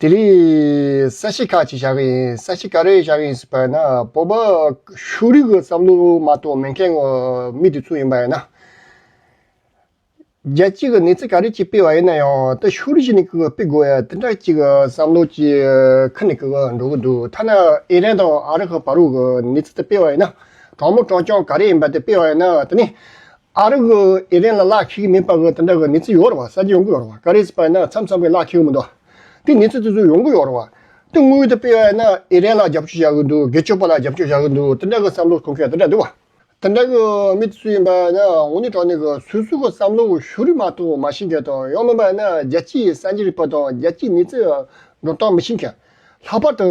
དེ་རིང་ས་གཞི་ཁག་ཅིག་བཞག་གི་ཡིན་ས་གཞི་ག་རེ་བཞག་གི་ཡིན་ཟེར་པ་ཡིན་ན་བོད་པ་ཤུགས་རིག་གི་བསམ་བློ་མ་གཏོགས་མེད་མཁན་གྱི་མི་དེ་ཚོ་ཡིན་པ་ཡིན་ན། རྒྱལ་སྤྱི་གི་གནས་ཚུལ་ག་རེ་གཅིག་སྤེལ་བ་ཡིན་ན་ཡང་ད་ཤུགས་རིག་གཞི་ནས་སྤེལ་དགོས་ཡ་དེ་འདྲ་གཅིག་བསམ་བློ་གཅིག་ཁ་ནས་འགྲོ་གི་འདུག་ཐ་ན་ཨི་རན་དང་ཨ་རི་ཁ་བ་རུ་གི་གནས་ཚུལ་དེ་སྤེལ་བ་ཡིན་ན་དྲང་མོ་དྲང་རྐྱང་ག་རེ་ཡིན་པ་དེ་སྤེལ་བ་ཡིན་ན་དེ་ནི། ཨ་རི་གིས་ཨི་རན་ལ་གླགས་འཁེལ་གྱི་མེད་པ་འི་དེ་འདྲ་གི་གནས་ཚུལ་ཡོད་རུང་བ་གསར་བརྗེ་ཡོང་གི་ཡོད་རུང་བ་ཀ་རེ་སི་པ་འི་ན་མཚམས་མཚམས་གི་གླགས་འཁེལ་གི་མི་འདུག་དེ་གནས་ཚུལ་དེ་ཚོ་ཡོང་གི་ཡོད་རུང་བ། དེ་དངུལ་དེ་སྤེལ་བ་འི་ན་ཨི་རན་ལ་རྒྱབ་སྐྱོར་བྱ་གི་འདུག་སྒེར་སྤྱོད་པ་ལ་རྒྱབ་སྐྱོར་བྱ་གི་འདུག་དེ་འདྲ་གི་བསམ་བློ་གོང་འཁེལ་དེ་འདྲ་འདུག་བ། དེ་འདྲ་གི་མི་དེ་ཚོ་ཡིན་པ་འི་ན་ངོ་ནི་དྲང་གནས་གི་སོ་སོ་གི་བསམ་བློ་འི་ཤུ་རི་མ་ཐུང་མ་ཤེས་མཁན་དང་ཡང་མིན་པ་འི་ན་རྒྱལ་སྤྱི་འི་གསར་བརྗེ་རིག་པ་དང་རྒྱལ་སྤྱི་གནས་ཚུལ་འི་འགྲོ་སྟངས་མི་ཤེས་མཁན། ལྷག་པར་དུ།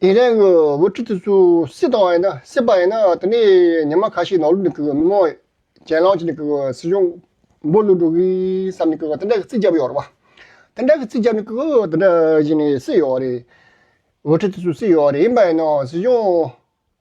དེ་རིང་གི་འོས་ཁྲི་དེ་ཚོ་སྲིད་དང་ཡིན་ན་སྲིད་པ་ཡིན་ན་དེ་ནས་ཉི་མ་ཁ་ཤས་ནང་ལུགས་ནས་མི་མང་གྱེན་ལངས་བྱས་ནས་སྲིད་གཞུང་འབོ་བླུག་འགྲོ་གི་བསམ་ནས་དེ་འདྲ་གི་རྩིས་རྒྱབ་ཡོད་རེད་བ། དེ་འདྲ་གི་རྩིས་རྒྱབ་ནས་དེ་འདྲ་བྱས་ནས་སྲིད་ཡོད་རེད། འོས་ཁྲི་དེ་ཚོ་སྲིད་ཡོད་རེད་ཡིན་པ་ཡིན་ན་སྲིད་གཞུང།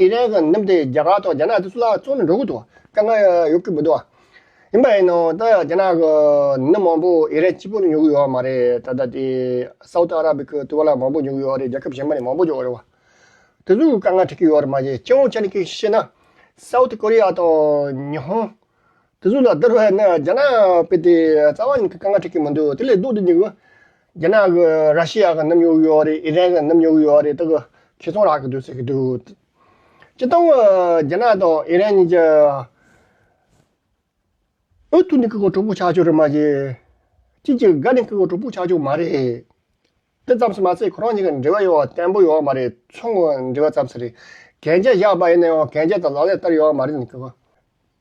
ཨི་རན་གྱི་གནམ་དེ་རྒྱ་གར་དང་རྒྱ་ནག་དེ་ཚོ་ལ་བཙོང་ནས་འགྲོ་གི་འདུག་དཀའ་ངལ་ཡོད་ཀྱི་མི་འདུག་ཡིན་པ་ཡིན་ནའང་ད་ཡང་རྒྱ་ནག་གི་མི་མང་པོ་ཨི་རན་སྤྱི་པོ་ནས་ཉོ་གི་ཡོད་བ་མ་རེད་ད་ལྟ་དེ Saudi Arabic གི་ཏུ་བ་ལ་མང་པོ་ཉོ་གི་ཡོད་བ་རེད་རྒྱལ་ཁབ་གཞན་པ་ནས་མང་པོ་ཉོ་གི་རེད་བ། དེ་ཚོ་དཀའ་ངལ་འཕྲད་ཀྱི་ཡོད་རེད་མ་གཞི་སྤྱི་འོངས་ཆ་ནས་ཀྱི་བཤད་ན South Korea དང་ཉི་ཧོང་དེ་ཚོ་ལ་བསྡུར་བས་ན་རྒྱ་ནག་དཔེ་དེ་རྩ་བ་ནས་ཀྱི་དཀའ་ངལ་འཕྲད་ཀྱི་མི་འདུག་དེ་ལས་ལྡོག་ཏུ་ཉི་ཧོང་རྒྱ་ནག་གི་ར་ཤི་ཡ་གི་རྣམ་གཡོག་ཡོད་རེད་ཨི་རན་གི་རྣམ་གཡོག་ཡོད་རེད་ད་གི་ཁྱེད་ཚོང་རག་གི་འདུག་ཟེར་གི་འདུག་སྤྱི་སྟངས་རྒྱ་ནག་དང་ཨི་རན་གཉིས་ཀྱི་འོས་བསྡུ་ནི་ཀི་ཀོ་གྲོགས་པོ་ཆགས་ཆོག་རེད་མ་གཞི་གཅིག་གྱུར་འགའ་ནི་ཀི་ཀོ་གྲོགས་པོ་ཆགས་ཆོག་མ་རེད་དེ་ཙམ་ཟེར་མ་ཟད་ཁོ་རང་གཉིས་ཀྱི་འབྲེལ་བ་ཡོད་བརྟན་པོ་ཡོད་མ་རེད་ཚོང་འབྲེལ་བ་ཙམ་ཟེར་གན་རྒྱ་བཞག་པ་ཡིན་ན་ཡང་གན་རྒྱ་དང་ལག་ལེན་བསྟར་ཡོད་མ་རེད་ནི་ཀི་ཀོ་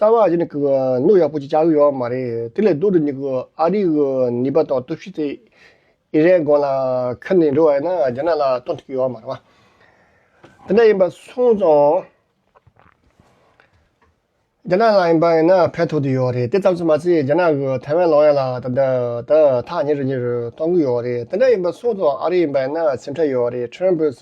རྩ་བ་གཞི་ནས་གནོད་ཡག་པོ་ཅིག་བྱ་གི་ཡོད་མ་རེད་དེ་ལས་ལྡོག་ཏུ་ནི་ཨ་རིའི་ནུས་པ་དང་སྟོབས་ཤུགས་དེ་ཨི་རན་དགོན་ལ་ཁུར་ནས་འགྲོ་བ་ཡིན་ན་རྒྱ་ནག་ལ་གཏོང་ཐུབ་ཀྱི་ཡོད་མ་རེད། དེ་འདྲ་ཡིན་པ་སོང་ཙང་རྒྱ་ནག་ལ་ཡིན་པ་ཡིན་ན་ཕན་ཐོགས་དུ་ཡོད་རེད་དེ་ཙམ་ཚོད་མ་ཚད་རྒྱ་ནག་གི་ཐའེ་ཝན་ལོག་ཡ་ལ་ད་ཐག་ཉེ་རུ་ཉེ་རུ་གཏོང་གི་ཡོད་རེད་དེ་འདྲ་ཡིན་པ་སོང་ཙང་ཨ་རི་ཡིན་པ་ཡིན་ན་སེམས་ཁྲལ་ཡོད་རེད་ཁྲེན་པོས།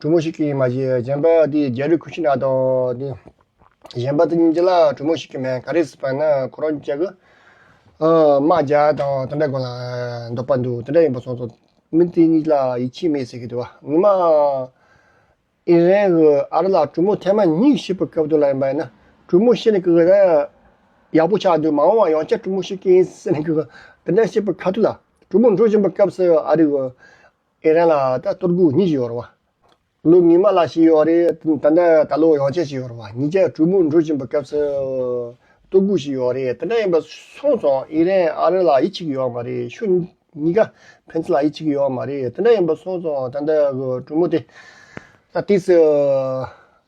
གྲུ་མོ་ཞིག་གིས་མ་གཞི་གཞན་པ་དེ་རྒྱལ་རིགས་ཁུ་ཤི་ནག་དང་དེ། གཞན་པ་ཏིང་འཛིན་ལ་གྲུ་མོ་ཞིག་གིས་མེ་ག་རེ་ཟིག་སྤངས་ན་ཁོ་རང་ཅག་གི། དམག་རྒྱ་དང་དེ་འདྲ་གང་ལ་འདོགས་པར་འདུག་དེ་འདྲ་ཡིན་པ་སོང་ཙང་མི་དེ་གཉིས་ལ་ཡིད་ཆེས་མེད་ཟེར་གི་འདུག་ཉི་མ། ཨི་རན་གྱི་ཨ་རི་ལ་གྲུ་མོ་ཐེངས་མ་གཉིས་ཤི་བའི་སྐབས་དེ་ལ་ཡིན་པ་ཡིན་ན་གྲུ་མོ་ཤི་ནས་ཀི་ཀི་ཡག་པོ་ཆགས་འདུག་མ་འོངས་བ་ཡང་བསྐྱར་གྲུ་མོ་ཤི་གི་ཡིན་ཟེར་ནས་ཀི་ཀི་དེ་འདྲ་ཤི་བའི་ཁ་ཐུག་ལ་གྲུ་མོ་འགྲོ་བཞིན་པའི་སྐབས་སུ་ཨ་རི་གི། ཨེ་རན་ལ་ད་གཏོར་རྒུག་གཉིས་ཤིག་ཡོད་རུང་བ། ལོ་ངེས་མ་ལ་ཞིག་ཡོད་རེད་དེ་འདྲ་ད་ལོ་ཡང་ཆད་ཞིག་ཡོད་རུང་བ་ཉིས་བརྒྱ་དྲུག་མོ་འགྲོ་བཞིན་པའི་སྐབས་སུ། གཏོར་རྒུག་ཞིག་ཡོད་རེད་དེ་འདྲ་ཡིན་པ་སོང་སོང་ཨེ་རན་ཨ་རི་ལ་ཡིད་ཆེས་ཀྱི་ཡོད་མ་རེད་ཤུ་གཉིས་ཀ་ཕན་ཚུན་ལ་ཡིད་ཆེས་ཀྱི་ཡོད་མ་རེད་དེ་འདྲ་ཡིན་པ་སོང་སོང་ད་ལྟ་གི་གྲུ་མོ་དེ། ད་ཏིས།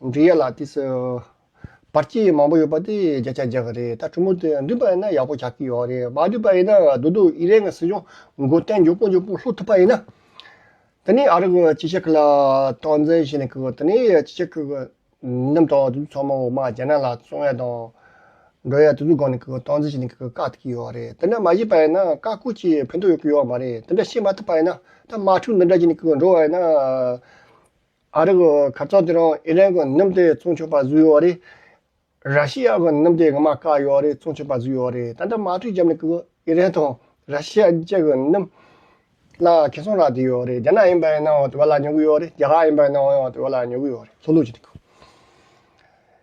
འབྲི་གཡག་ལ་ཏིས། བར་སྐྱིད་མང་པོ་ཡོད་པ་དེ་བརྒྱ་ཆ་བརྒྱ་རེད་ད་གྲོ་མོ་དེ་འགྲིག་པ་ཡིན་ན་ཡག་པོ་ཆགས་ཀྱི་ཡོད་རེད་མ་འགྲིག་པ་ཡིན་ན་དུ་དུ་ཨི་རན་གྱི་སྲིད་གཞུང་མགོ་བརྟན་མགྱོགས་པོ་མགྱོགས་པོ་ལྷུག་ཐུབ་པ་ཡིན་ན། དེ་ནས་ཨ་རི་གི་སྤྱི་ཁྱབ་ལ་སྟངས་འཛིན་བྱས་ནས་གི་དེ་ནས་སྤྱི་ཁྱབ་གི་རྣམས་དང་དུ་དུ་ཚང་མ་འོག་མ་རྒྱ་ནག་ལ་བཙོང་ཡ་དང། འགྲོ་ཡ་དུ་དུ་སྒང་ནས་གི་སྟངས་འཛིན་བྱས་ནས་གི་བཀག་ཐུབ་ཀྱི་ཡོད་རེད་དེ་འདྲ་མ་བྱས་པ་ཡིན་ན་བཀག་བཀོད་ཀྱི་ཕན་ཐོག་ཡོད་ཀྱི་ཡོད་མ་རེད་དེ་འདྲ་བྱས་མ་ཐུབ་པ་ཡིན་ན་ད་དམག་འཁྲུག་འདི་འདྲ་བྱས་ནས་གི་འགྲོ་བ་ཡིན་ན། ཨ་རི་གི་གར་ཚོགས་དེ་རིང་ཨི་རན་གྱི་གནམ་སྡེ་བཙོང་ཆོག་པ་བཟོས་ཡོད་རེད། ར་ཤི་ཡ་གི་གནམ་སྡེ་ངོ་མ་བཀག་ཡོད་རེད་བཙོང་ཆོག་པ་བཟོས་ཡོད་རེད་ད་ལྟ་མ་འཁྲུལ་རྒྱབ་ནས་ཀྱི་ཨི་རན་དང་ར་ཤི་ཡ་བཅས་ཀྱི་གནམ་ལ་གན་སོང་རག་བསྡད་ཡོད་རེད་རྒྱ་ནག་ཡིན་པའི་ནང་དབར་དུ་བ་ལ་ཉོ་གི་ཡོད་རེད་རྒྱ་གར་ཡིན་པའི་ནང་དབར་དུ་བ་ལ་ཉོ་གི་ཡོད་རེད་ལྷོད་ལྷོད་བྱས་ཏེ་ཀྱི།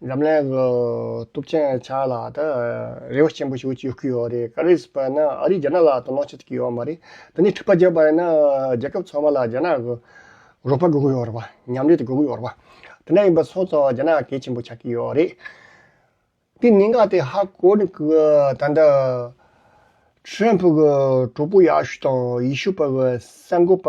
འཛམ་གླིང་གི་སྟོབས་ཆེན་ཆགས་ལ་ད་རེ་བ་ཆེན་པོ་ཞིག་ཡོད་ཀྱི་ཡོད་རེད་ག་རེ་ཟེར་བ་ན་ཨ་རིས་རྒྱ་ནག་ལ་དོ་སྣང་བྱེད་ཐུབ་ཀྱི་ཡོད་མ་རེད་དེ་ནས་འཁྲིག་པ་རྒྱག་པ་ཡིན་ན་རྒྱལ་ཁབ་ཚང་མ་ལ་རྒྱ་ནག་གི་རོགས་པ་དགོས་ཀྱི་ཡོད་རེད་བ་མཉམ་འབྲེལ་དེ་དགོས་ཀྱི་ཡོད་རེད་བ་དེ་འདྲ་ཡིན་པ་སོང་ཙང་རྒྱ་ནག་གལ་ཆེན་པོ་ཆགས་ཀྱི་ཡོད་རེད་དེ་གནད་འགག་དེ་ཧ་གོ་ནི་གི་ད་ལྟ Trump གི་གྲོགས་པོ་ཡག་ཤོས་དང་ཡིད་ཤོས་པ་གི་གསར་འགོད་པ་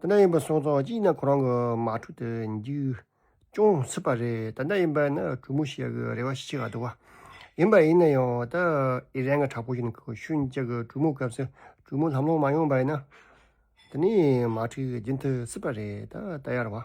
ད་ནས་ཡིན་པ་སོང་ཙང་གཅིག་ཡིན་ན་ཁོ་རང་གི་མ་ཐུག་དེ་འཇིག་ཅུང་སྲིད་པ་རེད་ད་ལྟ་ཡིན་པ་ཡིན་ན་གྲུ་མོ་ཞིག་གི་རེ་བ་ཞིག་ཆེ་ག་འདུག་ཡིན་པ་ཡིན་ན་ཡང་ད་ཨི་རན་གྱི་དྲག་པོ་ཞིག་ནི་ཤུན་ལྕགས་ཀྱི་གྲུ་མོ་སྐབས་སུ་གྲུ་མོ་ལྷམ་ལྷོང་མ་ཡོང་པ་ཡིན་ན་ད་ནས་མ་ཐུག་རྒྱུན་མཐུད་སྲིད་པ་རེད་ད་ད་ཡར་བ།